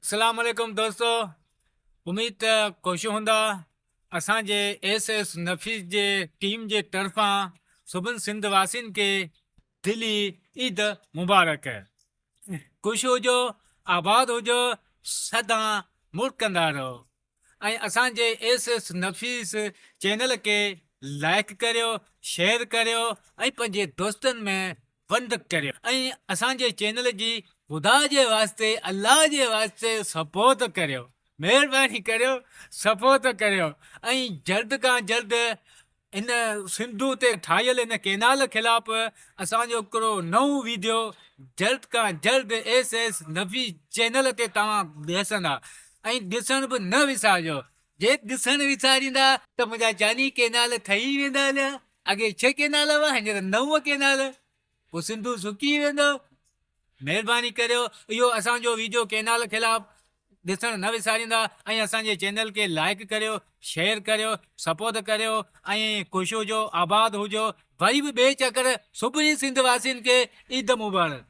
السلام عليڪم دوستو اميد ته خوش هوندا اسان جي ايس ايس نفيس جي ٽيم جي طرفان سڀن سنڌ واسين کي دلي عيد مبارڪ خوش هجو آباد هجو سدان مڙڪندا رهو ۽ اسان جي ايس ايس نفيس چينل کي لائيڪ ڪريو شيئر ڪريو ۽ پنهنجي دوستن ۾ ونڊ ڪريو ۽ اسان جي چينل جي خدا جي واسطي الله جي واسطي سپورٽ ڪريو مهرباني ڪريو سپورٽ ڪريو ۽ جلد کان جلد ان سنڌو تي ٺاهيل ان ڪينال خلاف اسان جو هڪڙو نئون ويڊيو جلد کان جلد ايس ايس نفي چينل تي توهان ڏسندا ۽ ڏسڻ به نه وسارجو جي ڏسڻ وساريندا ته منهنجا جاني ڪينال ٺهي ويندا هليا اڳي ڇهه ڪينال هئا هينئر نو ڪينال پوء سنڌو سڪي ويندو. مهرباني ڪريو اهو اسان جو ويڊيو ڪينال خلاف ڏسڻ نه وساريندا ۽ اسان جي چينل کي لائيڪ ڪريو شيئر ڪريو سپوت ڪريو ۽ خوش هجو آباد هجو وري به ٻئي چڪر سڀني سنڌ واسين کي عيد مبارڪ.